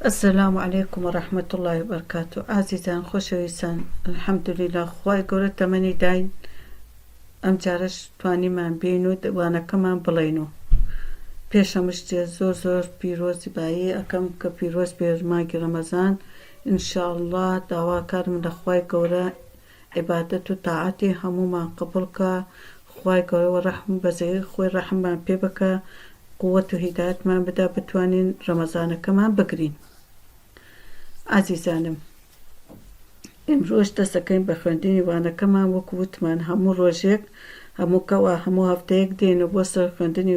السلام علیکم و رحمت اللە و برکاته ئازیزان خۆشەویستان الحمدللە خوای گەورە تەمەنی داین ئەم جارەش توانیمان بین و وانەکەمان بڵین و پێشەمشتێ زۆر زۆر پیرۆزی بایی ئەەکەم کە پیرۆز بێ ماگی ڕەمەزان انشاء اللە داواکارم لە خوای گەورە عیبادەت و تاعەتی هەموومان قبوڵ کا خوای گەورە وە ڕەحم و بەزەیی خۆی ڕەحممان پێ بکا قوەت و هیدایەتمان بدا بتوانین ڕەمەزانەکەمان بگرین ئازیزانم ئیمڕۆش دەسەکەین بە خوێندنی وانەکەمان وەکو وتمان هەموو ڕۆژێک هەموو کەوا هەموو هەفتەیەک دێنە بۆ سەر خوێندنی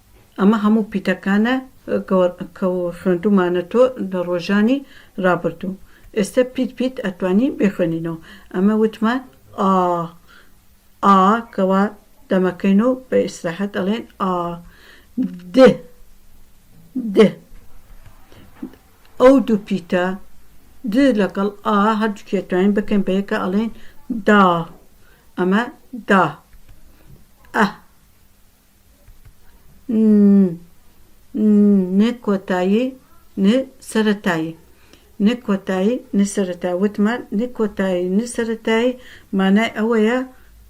ئەمە هەموو پیتەکانە کە خوێندومانەتۆ لە ڕۆژانی ڕابردوو ئێستە پیت پیت ئەتوانی بیخوێنینەوە ئەمە وتمان ئا ئا کەوا دەمەکەین و بە ئیسراحەت ئەڵێن ئا د د ئەو دوو پیتە د لەگەڵ ئا هەردووکێ توانین بکەین بە یەکە ئەڵێن دا ئەمە دا ئە ن ن کۆتایی ن سەرەتایی ن کۆتایی ن سەرەتایی وتمان ن کۆتایی ن سەرەتایی مانای ئەوەیە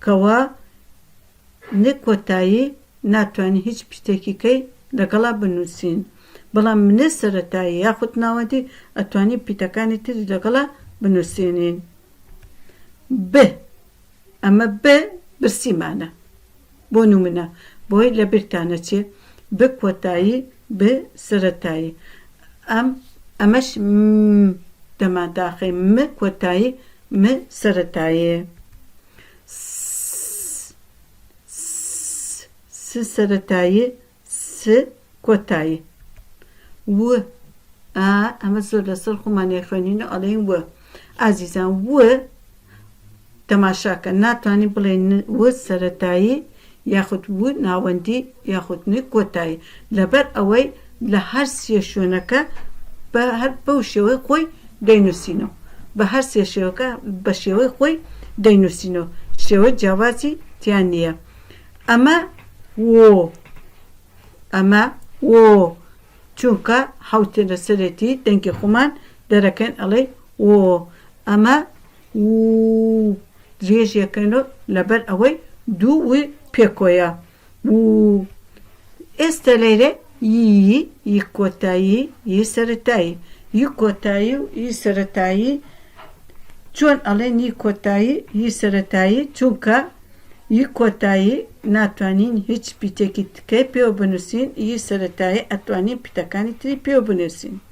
کەوا ن کۆتایی ناتوانین هیچ پیتێکیکەی لەگەڵا بنووسین بەڵام ن سەرەتایی یاخود ناوەندی ئەتوانین پیتەکانی تری لەگەڵا بنووسینین ب ئەمە ب برسیمانە بۆ نمونە بۆ لە بیرتان نەچێ ب کۆتایی ب سەرەتایی ئەم ئەمەش م دەمان داخەی م کۆتایی م سەرەتایی س س س سەرەتایی س کۆتایی و ئا ئەمە زۆر لەسەر خۆمان نەیخوێنین و ئەڵێین و ئازیزان و تەماشاکە ناتوانین بڵێین ن و سەرەتایی یاخود و ناوەندی یاخود ن کۆتایی لەبەر ئەوەی لە هەر سێ شوێنەکە بە هەر بەو شێوەی خۆی دەینووسینەوە بە هەر سێ شێوەکە بە شێوەی خۆی دەینووسینەوە شێوەی جیاوازی تیا نییە ئەمە وۆ ئەمە وۆ چونکە حوتێ لەسەرێتی دەنگی خۆمان دەرەکەن ئەڵێ وۆ ئەمە و درێژیەکەن و لەبەر ئەوەی دوو پێکۆیە و ئێستە لێرە ی ی کۆتایی ی سەرەتایی ی کۆتایی و ی سەرەتایی چۆن ئەڵێن ی کۆتایی ی سەرەتایی چونکە ی کۆتایی ناتوانین هیچ پیتێکی تکەی پێوە بنوسین ی سەرەتایی ئەتوانین پیتەکانی تری پێوە بنوسین.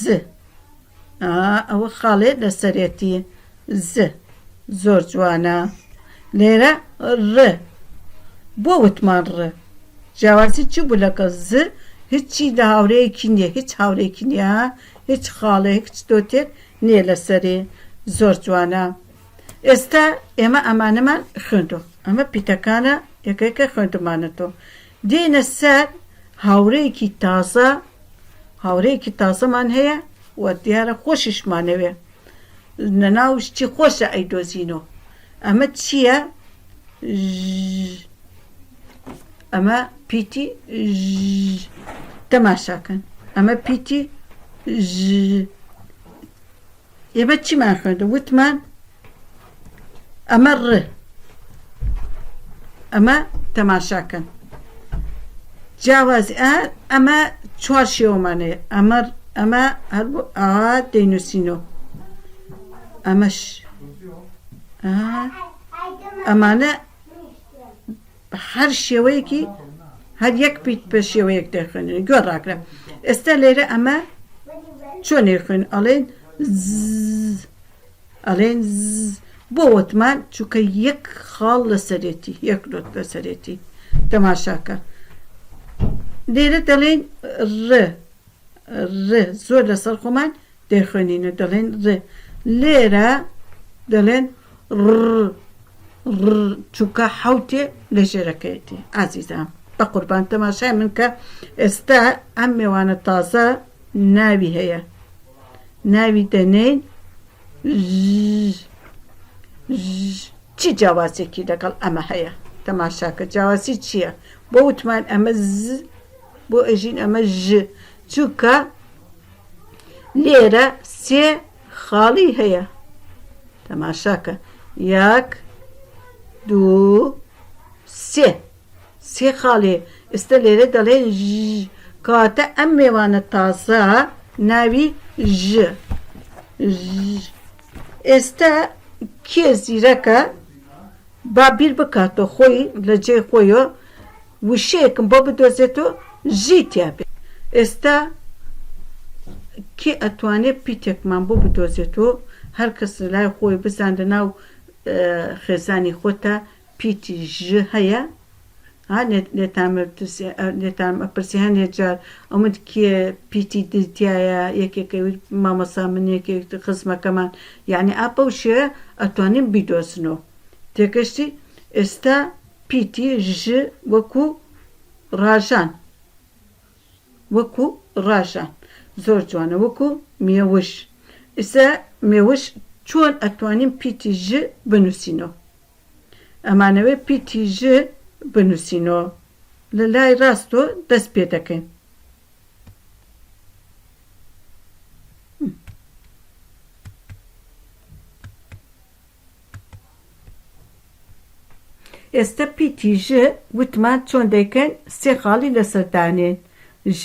ز ئا ئەوە خاڵێ لەسەرێتی ز زۆر جوانە لێرە ڕ بۆ وتمان ڕ جیاوازی چی بوو لەگەڵ ز هیچی لە هاورەیەکی نییە هیچ هاورێکی نییە هیچ خاڵێ هیچ دۆتێک نییە لەسەری زۆر جوانە ئێستا ئێمە ئەمانەمان خوێندو ئەمە پیتەکانە یەکەکە خوێندمانەتەوە دێنە سەر هاورێیەکی تازە هاورێیەکی تازەمان هەیە و دیارە خۆشیشمانەوێ لەناو شتی خۆشە ئەیدۆزینەوە ئەمە چییە ئەمە پیتی تەماشاکەن ئەمە پیتی ئێمە چیمان خوێندە وتمان ئەمە ڕ ئەمە تەماشاکەن جیاواز ئەمە چوار شێوەمانێ ئەمە ئەمە هەر ئاوا دەینوسینەوە ئەمەش ئەمانە هەر شێوەیەکی هەر یەک پیت پێ شێوەیەک دەخوێنن گوێ ڕاکرە ئێستا لێرە ئەمە چۆنێ خوێن ئەڵێن ئەلێن زز بۆ وەتمان چونکە یەک خاڵ لەسەرێتی یەک نۆت لەسەرێتی تەماشاکە لێرە دەلێن ر ر زۆر لەسەر خۆمان دەیخوێنینە دەلێن ر لێرە دەلێن ڕڕڕ چونکە حوتێ لە ژێرەکەیەتی ئازیزان بە قوربان تەماشای من کە ئێستا ئەم مێوانە تازە ناوی هەیە ناوی دەنێین چی جیاوازێکی لەگەڵ ئەمە هەیە تەماشاکە جیاوازی چییە بۆ وتمان ئەمە بۆ ئەژین ئەمە ژ چووکە لێرە سێ خاڵی هەیە تەماشاکە یاک دوو سێ سێ خاڵێ ئێستا لێرە دەڵێ ژژ کەواتە ئەم مێوانە تازە ناوی ژ ژ ئێستا کێ زیرەکە با بیر بکاتەوە خۆی لە جێ خۆیەوە وشەیەکم بۆ بدۆزێتەوە ژی تیا بێت ئێستا کێ ئەتوانێت پیتێکمان بۆ بدۆزێتەوە هەر کەس لای خۆی بزان لە ناو خێزانی خۆتە پیتی ژ هەیە ها لێتان لێتان ئەپرسێ هەندێک جار ئەومت کێ پیتی دز تایە یەکێکە وت مامۆسا من یەکێک خزمەکەمان یعنی ئا بەو شێوەیە ئەتوانین بیدۆزنەوە تێگەشتی ئێستا پیتی ژ وەکوو ڕاژان وەکوو ڕاژان زۆر جوانە وەکوو مێوژ ئیستا مێوژ چۆن ئەتوانین پیتی ژ بنووسینەوە ئەمانەوێ پیتی ژ بنوسینۆ لە لای ڕاستۆ دەست پێ دەکەین. ئێستە پیتی ژ وتمان چۆن دەیکەین سێ خاڵی لەسەر دانێین ژ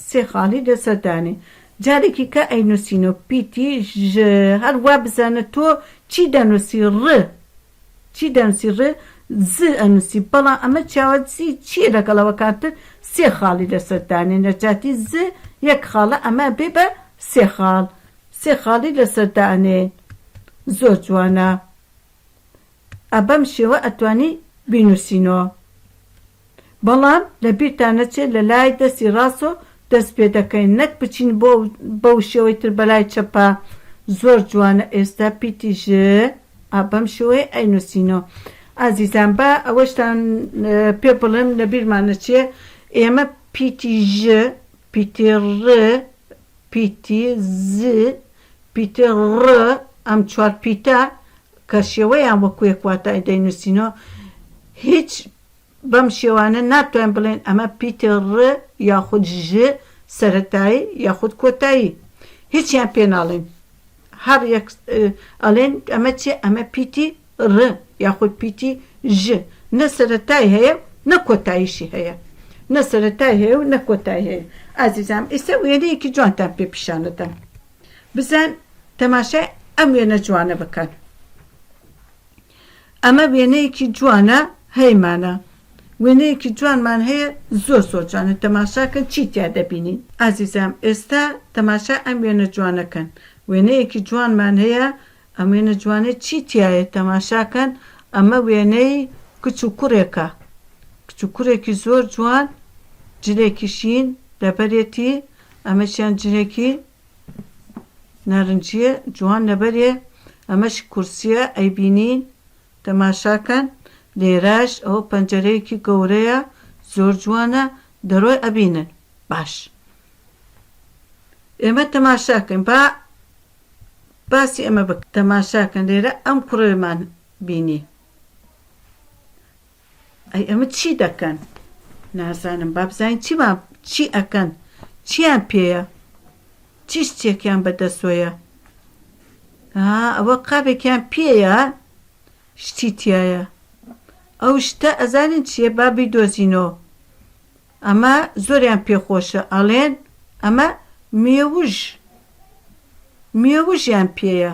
سێ خاڵی لەسەر دانێین جارێکی کە ئەینوسینۆ پیتی ژ هەر وا بزانە تۆ چی دەنوسی ڕ چی دەنوسی ڕ ز ئەنوسی بەڵام ئەمە چیاوازی چیە لەگەڵ ئەوە کاتر سێ خاڵی لەسەر دانێ نە جاتی ز یەک خاڵە ئەمە ئەبێ بە سێ خاڵ سێ خاڵی لەسەر دانێ زۆر جوانە ئە بەم شێوە ئەتوانی بینوسینۆ. بەڵام لە بیرتان نەچێت لە لای دەستی ڕاستۆ دەست پێ دەکەین نەک بچین بۆ ئەو بەو شێوەی تر بەلای چەپا زۆر جوانە ئێستا پیتی ژ ە بەم شێوەیە ئەینوسینۆ ئازیزان با ئەوەشتان پێ بڵێم لە بیرمان نەچێ ئێمە پیتی ژ پیتی ڕ پیتی ز پیتی ڕ ئەم چوار پیتە کە شێوەیان وەکو یەک واتای دەینوسینۆ هیچ بەم شێوانە ناتوانین بڵێین ئەمە پیتی ڕ یاخود ژ سەرەتایی یاخود کۆتایی هیچیان پێ ناڵێین هەڕ یەک ئەڵێن ئەمە چیە ئەمە پیتی ڕ یاخود پیتی ژ نە سەرەتای هەیە نە کۆتاییشی هەیە نە سەرەتای هەیە و نە کۆتای هەیە ئازیزام ئیستا وێنەیەکی جوانتان پێ پیشانەدەم بزان تەماشای ئەم وێنە جوانە بکەن ئەمە وێنەیەکی جوانە هەیمانە. وێنەیەکی جوانمان هەیە زۆر زۆر جوانە تەماشاکەن چی تیا دەبینین ئازیزام ئێستا تەماشای ئەم وێنە جوانەکەن وێنەیەکی جوانمان هەیە ئەم وێنە جوانەی چی تیایە تەماشاکەن ئەمە وێنەی کچ و کوڕێکە کچ و کوڕێکی زۆر جوان جلێکی شین لەبەرێتی ئەمەشیان جلێکی نارنجیە جوان لەبەرێ ئەمەش کورسیە ئەیبینین تەماشاکەن لێرەش ئەوە پەنجەرەیەکی گەورەیە زۆر جوانە دەرۆی ئەبینن باش ئێمە تەماشاکەن با باسی ئەمە بکە تەماشاکەن لێرە ئەم کوڕێمان بینی ئەی ئەمە چی دەکەن نازانم بابزین چیمان چی ئەکەن چیان پێیە چیش چێکیان بەدەسۆیە ها ئەوە قاپێکیان پێیە شتی تایە ئەو شتە ئەزانین چیە بابی دۆزینۆ ئەمە زۆریان پێخۆشە ئەڵێن ئەمە مێوژ مێوژیان پێیە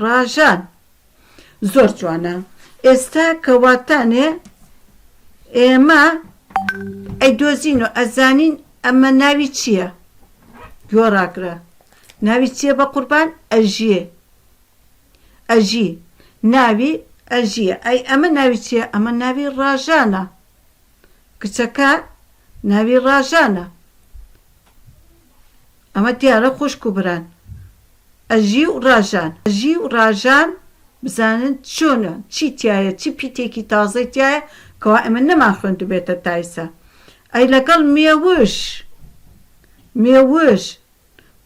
ڕاژان زۆر جوانە ئێستا کە واتانێ ئێمە ئەیدۆزین و ئەزانین ئەمە ناوی چییە گۆڕاگرە ناوی چییە بە قوربان ئەژیێ ئەژی ناوی ئەژیە ئەی ئەمە ناوی چییە ئەمە ناوی ڕاژانە کچەکە ناوی ڕاژانە ئەمە دیارە خوشک و بران ئەژی و ڕاژان ئەژی و ڕاژان بزانن چۆنە چی تایە چی پیتێکی تازەی تایە کەوا ئەمە نەمان خوێندو بێتە تایسە ئەی لەگەڵ مێوش مێوش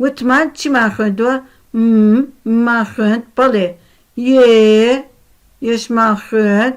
وتمان چیمان خوێندووە م مان خوێند بەڵێ یێ یشمان خوێند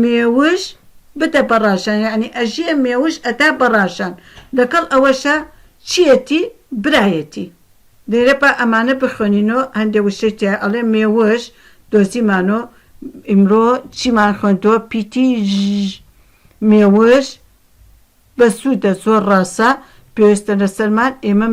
مێوژ بدە بەڕاژان یانی ئەژیە مێوژ ئەدا بەڕاژان لەکەڵ ئەوەشا چیەتی برایەتی لێرە با ئەمانە بخوێنینۆ هەندێ وشەی تیا ئەڵێ مێوژ دۆزیمانۆ ئیمڕۆ چیمان خوێندۆ پیتی ژ مێوژ بەسودە زۆر ڕاسە پێوستە لەسەرمان ئێمە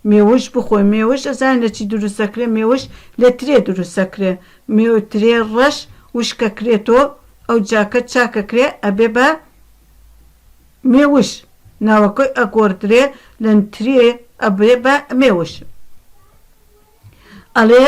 مێوژ بخۆین مێوژ ئەزانین لەچی دروستەکرێ مێوژ لە ترێ دروستەکرێ مێو ترێ ڕەش وشکەکرێتۆ ئەوجا کە چاکەکرێ ئەبێ بە مێوژ ناوەکەی ئەگۆردرێ لە ترێ ئەبێ بە مێوژ ئەڵێ.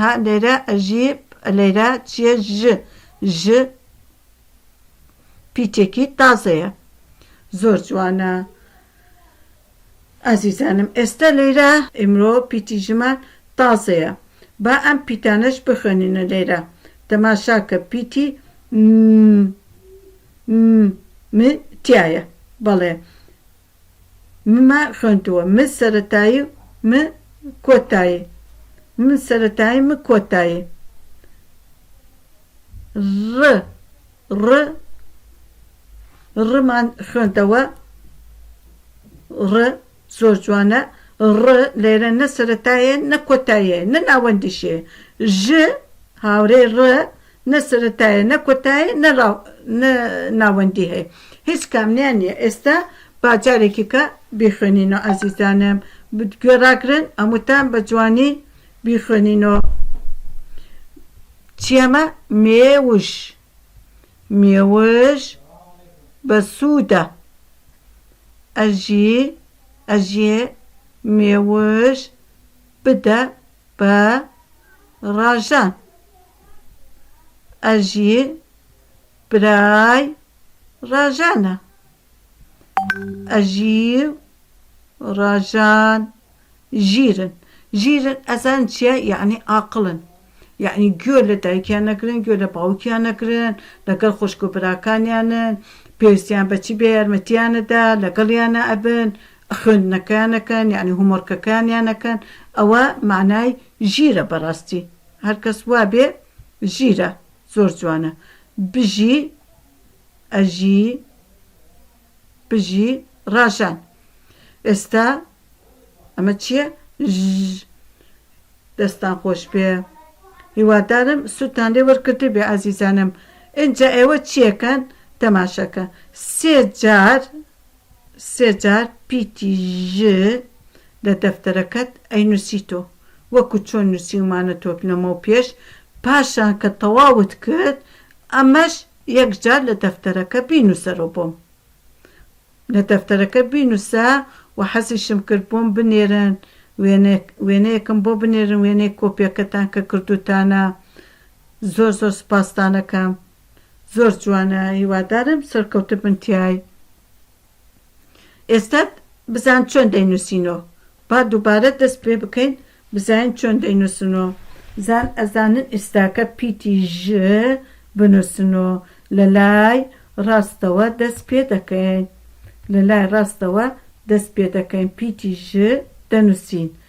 هە لێرە ئەژی لێرە چیە ژ ژ پیتێکی تازەیە زۆر جوانە ئازیزانم ئێستا لێرە ئیمرۆ پیتی ژمان تازەیە با ئەم پیتانەش بخوێنینە لێرە تەماشاکە پیتی م م م تایە بەڵێ ممە خوێندووە م سەرەتایی و م کۆتایی م سەرەتایی م کۆتایی ڕ ڕ ڕمان خوێندەوە ڕ زۆر جوانە ڕ لێرە نە سەرەتایە نە کۆتاییە نە ناوەندیشێ ژ هاورێ ڕ نە سەرەتایە نە کۆتایە نە نە ناوەندی هەیە هیچ کامنیان نیە ئێستا با جارێکیکە بیخوێنینەوە ئازیزانم گوێ ڕاگرن هەمووتان بە جوانی بیخوێنینەوە چیەمە مێوش مێوش بە سوودە ئەژی ئەژێ مێوش بدە بە ڕاژان ئەژین برای ڕاژانە. ئەژیو ڕاژان ژیرن ژیرن ئەزان چیە یەعنی ئاقڵن یەعنی گوێ لە دایکیان نەگرن گوێ لە باوکیان نەگرن لەگەڵ خوشک و براکانیانن پێویستیان بە چی بێ یارمەتیانەدا لەگەڵیانە ئەبن خوێندنەکەیان ئەکەن یەعنی هۆمۆرکەکانیان ئەکەن ئەوە مەعنای ژیرە بەڕاستی. هەرکەس وابێ ژیرە زۆر جوانە بژی ئەژی بژی ڕاژان ئێستا ئەمە چییە دەستان خۆش بێ هیوادارم سوتان لێ وەرکرد بێ ئازیزانم ئینجا ئێوە چیەکەن تەماشەکە سێ جار سێ جار پیتی ژ لە دەفتەرەکەت ئەینوسیتۆ وەکو چۆن نوسیومانە تۆت لەمەو پێش پاشان کە تەواوت کرد ئەمەش یەک جار لە دەفتەرەکە بینوسەرۆ بۆم لە دەفتەرەکە بینوسە وە حەزیشم کرد بۆم بنێرن وێنەک وێنەیەکم بۆ بنێرن وێنەی کۆپیەکەتان کە کردوتانە زۆر زۆر سوپاستانەکەم. زۆر جوانە هیوادارم سەرکەوتو بن تیای. ئێستا بزان چۆن دەینوسینۆ با دوبارە دەست پێ بکەین بزاین چۆن دەینوسنۆ. زان ئەزانن ئیستاکە پیتی ژ بنوسنۆ لە لای ڕاستەوە دەست پێ دەکەین لە لای ڕاستەوە دەست پێ دەکەین پیتی ژ دەنوسین.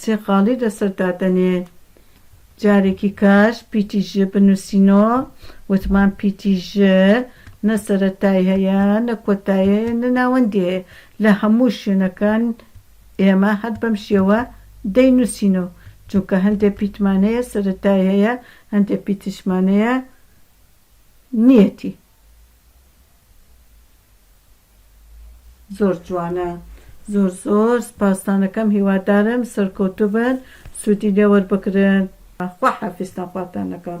سێقاڵی لەسەر دادەنێ جارێکی کاش پیتی ژ بنوسینۆ وتمان پیتی ژ نە سەرەتای هەیە نە کۆتای هەیە نە ناوەندی هەیە لە هەموو شوێنەکان ئێمە هەر بەم شێوە دەی نوسینۆ جونکە هەندێ پیتمان هەیە سەرەتای هەیە هەندێ پیتشمان هەیە نیەتی. زۆر جوانە زۆر زۆر سپاستانەکەم هیوادارم سەرکەوتوبن سودی لێ وەربگرن خوا حافیزتان خواتان لەگەڵ.